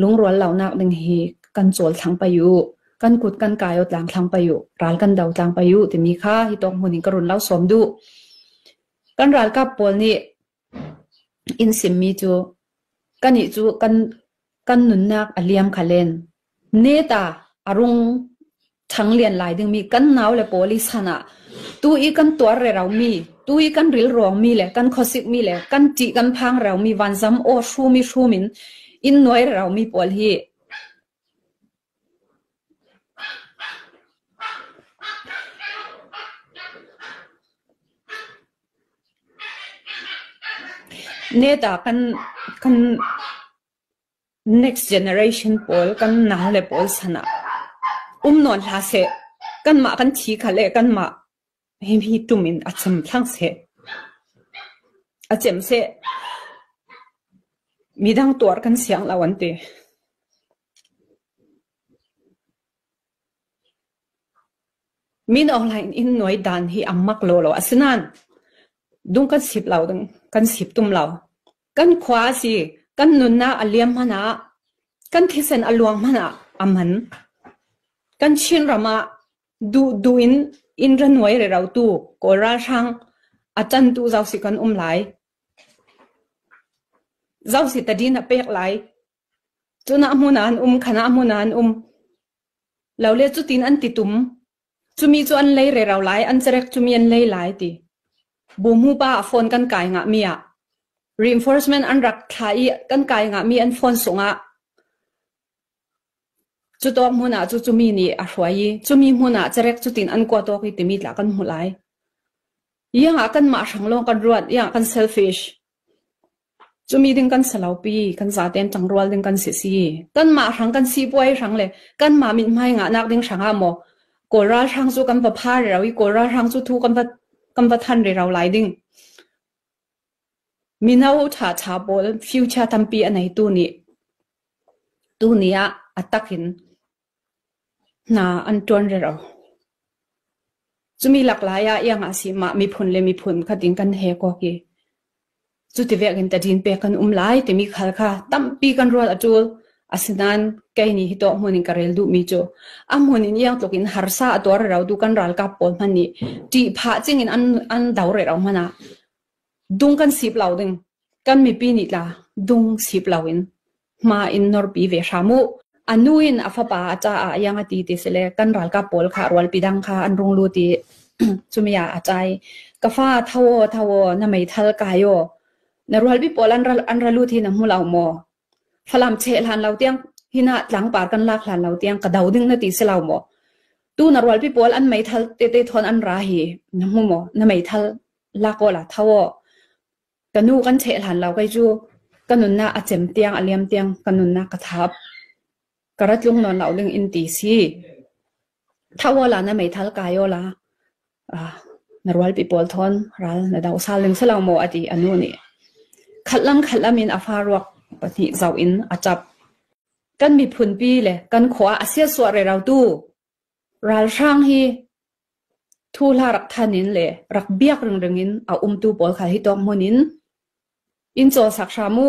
Lungrual lonak ding hi kan cawl thlang pei u. Kan kut kan kai u tlang thlang pei u. Ral kan do tlang pei u timi kha hi tawk hmun in ka run lau sawm duh. Kan ralkap pawl nih in simmi cu kanih cu kan kan nunnak a liam kha len. Ne ta a rung Chang lian lai dingmi kan nau le pawl i san ah tu i kan tuar re romi, tu i kan ril ruangmi le kan khuasikmi le kan ṭih kan phang romi vanzam aw hrum i hrum in inn nuai re romi pawl hi net ah kan kan Next generation pawl kan nang le pawl san ah um nawn hlah seh. Kanmah kan thi kha le kanmah hihi ṭum in a chim thlang seh. A cem seh. Midang tuar kan siang lo an ti. Min ohlain in nuai dan hi a mak lawlaw. Asinain, dung kan sip lo ding, kan sip tum lo. Kan khua a si, kan nunnak a liam hmanh ah, kan thisen a luang hmanh ah a man. Kan Chinram ah duhduh in innra nuai rerotu Kawl ralhrang a tantu Zosi kan um lai. Zosi tadin a pek lai. Cunah hmun an um, khanah hmun an um. Lo le cutin an titum. Cumi cu an lei rero lai, an cerek cumi an lei lai ti. Bumu pa ah phone kan kai ngahmi ah, reinforcement an rak thlah i kan kai ngahmi an phone sung ah, cu tawk hmun ah cu cumi nih a hruai i cumi hmun ah cerek cu tin an kua tawk i timi tla kan hmu lai. Iang ah kanmah hrang lawng kan ruat, iang ah kan selfish. Cu mi ding kan si lo pi. Kan zaten ṭangrual ding kan si si. Kanmah hrang kan sipuai hrang le kanmah mithmai ngahnak ding hrang ah maw Kawl ralhrang cu kan va pha rero i Kawl ralhrang cu thu kan va kan va than rero lai ding. Mino ṭhaṭha pawl future tampi a neitu nih tuni ah a tak in Hna an ṭuan rero. Cumi laklai ah iang ah a si. Mah miphun le miphun khat in kan he kawk i cuti vek in tadin pek kan um lai timi khal kha tampi kan rual a ṭul. Asinain kei nih hi tawk hmun in ka rel duhmi cu a hmun in iang tluk in harsa a tuar rero tu kan ralkap pawl hmanh nih ṭih phah cing in an, an do rero hmanh ah dung kan sip lo ding. Kan mipi nih tla dung sip lo in Hma in norpi ve hram u. A nu in a fapa a caah iang a ti ti si le kan ralkap pawl kha rualpi dang kha an rung lut i cumi ah a cai. Ka fa tho aw tho aw na meithal kai aw na rualpi pawl an ra, an ra lut hi na hmu lo maw? Falam cheh hlan lo tiang hinah tlangpar kan lak hlan lo tiang ka do ding na ti si lo maw? Tu na rualpi pawl an meithal te te thon an ra hi na hmu maw? Na meithal lak aw la tho aw. Ka nu kan ṭheh hlan lo kei cu ka nunnak a cem tiang, a liam tiang ka nunnak ka thap. Ka ra tlung nawn lo ding in ti si. Thau aw la na meithal kai aw la ah, na rualpi pawl thawn ral na do sal ning si lo maw a ti a nu nih. Khat lam khat lam in a fa ruak pahnih zau in a ṭap. Kan miphunpi le kan khua a siasuah rero tu Ralhrang hi thuhla rak than in le rak biak ringring in a umtu pawl kha hi tawk hmun in in cawl sak hram u.